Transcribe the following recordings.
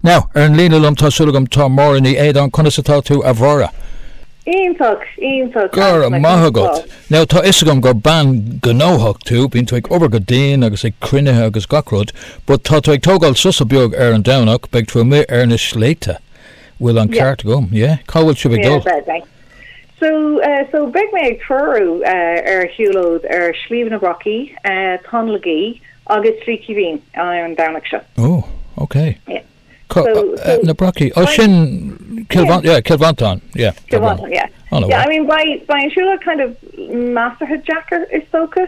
Now, ar an líne liom tá súil agam tá Máire Ní Éadáin, conas atá tú a Mháire? Iontach, iontach, go raibh maith agat. Now, tá fhios agam gur bean gnóthach tú, bíonn tú ag obair go dian agus ag cruinnithe agus gach rud, but tá tú ag tógáil sosa beag ar an Domhnach, beidh tú amuigh ar na sléibhte. Bhfuil an Yeah, ceart agam, yeah? Cá bhfuil sibh ag yeah, dul? beidh, beidh. So, so, beidh mé ag treorú ar shiúlóid ar Shliabh na Brocaí, Tóin le Gaoith agus Slí Chaoimhín ar an Domhnach seo. Ó, ok. Na Brocaí, ó sin Cill Mhantáin, Cill Mhantáin, yeah. Cill Mhantáin, yeah. Yeah, I mean, beidh an siúlóid kind of measartha deacair is dócha.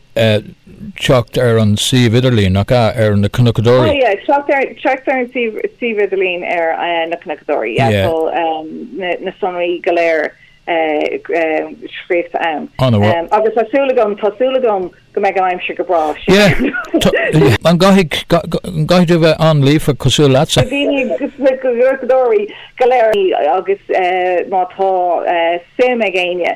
teacht ar an suíomh idirlín, nach ea, ar Na Cnocadóirí? teacht ar an suíomh idirlín ar Na Cnocadóirí. na sonraí go léir scríofa ann. Agus tá súil agam, tá súil agam go mbeidh an aimsir go breá. Sin. An gcaithfidh tú bheith an-líofa cosúil leatsa? Bhí na Cnocadóirí go léir agus má tá suim ag éinne.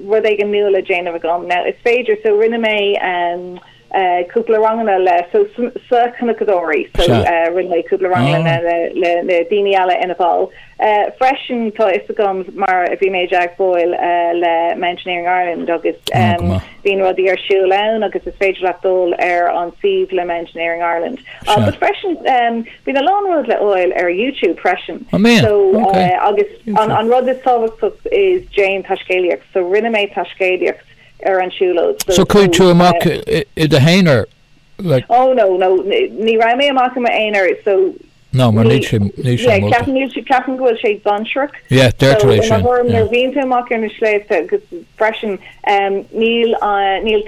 rud éigin nua le déanamh agam. Now is féidir, so rinne mé ehm eh cúpla ranganna le so sna cnocadóirí, so Sea. eh rinne mé cúpla ranganna Ah. le le le daoine eile ina bhall. Eh freisin tá a fhios agam mar bhí mé i dteagmháil eh le Mountaineering Ireland agus Ah, ehm go maith. bíonn rudaí ar siúl ann agus is féidir leat dul ar an suíomh le Mountaineering Ireland. Ah Sea. but freisin ehm Bíonn a lán rud le fháil ar YouTube freisin. An mbeadh? So Ok. agus an an rud is tábhachtach is déan taiscéalaíocht. So rinne mé taiscéalaíocht ar an siúlóid. So So chuaigh tú so amach eh, i do haonar? Like Oh no no ni ní raibh mé amach i m'aonar so Ná mar ní níl sé níl sé yeah molta. ceapaim níl sé ceapaim go bhfuil sé dainséarach. Yeah So deirtear é i mo sin thuairim yeah. nuair a bhíonn tú amach ar na sléibhte agus freisin. Níl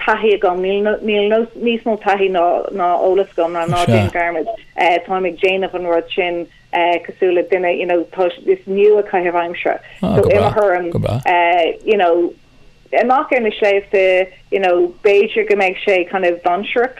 taithí agam, níl níos mó taithí ná eolas agam, ná ná déan dearmad, táim ag déanamh an rud sin cosúil le duine, you know, tá, is níl ach caitheamh aimsire. So, i mo thuairim, you know, amach ar na sléibhte, you know, b'fhéidir go mbeidh sé kind of dainséarach.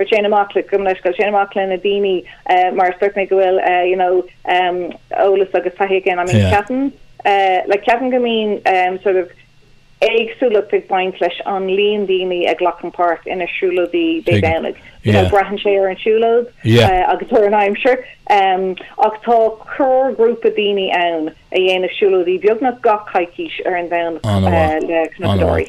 Téann amach le, gabh mo leithscéal, téann amach le na daoine mar is dúirt mé go bhfuil you know eolas agus taithí againn. I mean ceapaim like ceapaim go mbíonn sort of éagsúlacht ag baint leis an líon daoine a ghlacann páirt ina siúlóidí Dé Domhnaigh. You know braitheann sé ar an siúlóid agus ar an aimsir ach tá core ghrúpa daoine ann a dhéanann siúlóidí beagnach gach coicís ar an Domhnach le cnocadóirí.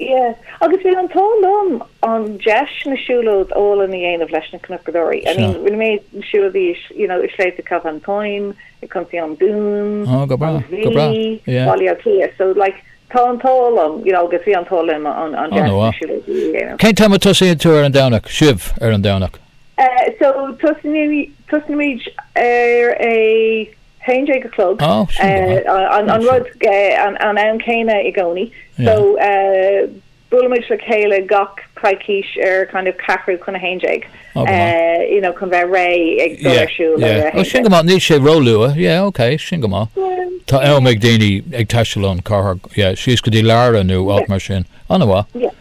Ie. Agus bhí an t-ádh liom an deis na siúlóidí áille a dhéanamh leis na Cnocadóirí. I mean, rinne mé na siúlóidí i, you know, i Sléibhte Chill Mhantáin, i gContae an Dún, an Mhí, Baile Átha Cliath. So, like, tá an t-ádh liom, you know, agus bhí an t-ádh liom an deis na siúlóidí a dhéanamh. Cén t-am a tosaíonn tú ar an Domhnach, sibh ar an Domhnach? So, tosnaímid ar a. 11 a chlog an rud, an t-am céanna i gcónaí so buailimid le chéile gach coicís ar kind of ceathrú chun 11 you know chun bheith réidh ag dul ar siúl ar 11. Ó sin go maith níl sé róluath yeah ok sin go maith tá am ag daoine ag taisteal ón gcathair yeah síos go dtí Lara nó áit mar sin. An-mhaith.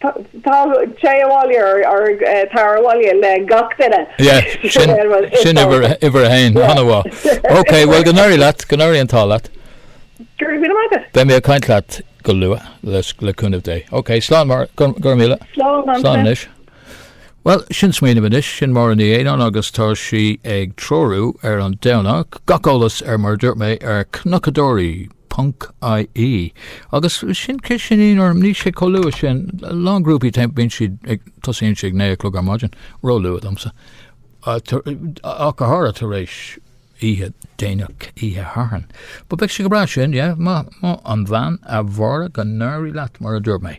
Teacht abhaile or tar abhaile le gach duine. Yeah, sin uimhir a haon, an-mhaith. Ok, bhuel go n-éirí leat, go n-éirí an t-ádh leat. Go raibh míle maith agat. Beidh mé ag caint leat go luath, le cúnamh Dé. Ok, slán, a Mháire, go raibh míle. Slán, slán. Slán anois. Bhuel, sin smaoineamh anois, sin Máire Ní Éanáin agus tá sí ag treorú ar an Domhnach gach eolas ar, mar a dúirt mé, ar cnocadóirí. ie. Agus sin cé sin í nó níl sé chomh luath sin, a lán grúpaí téann, bíonn siad ag, tosaíonn siad ag naoi a chlog ar maidin, róluath domsa, ach háirithe tar éis oíche déanach, oíche Shathairn. But beidh sé go breá sin, yeah, maith, maith an bhean, a Mháire, go n-éirí leat mar a dúirt mé.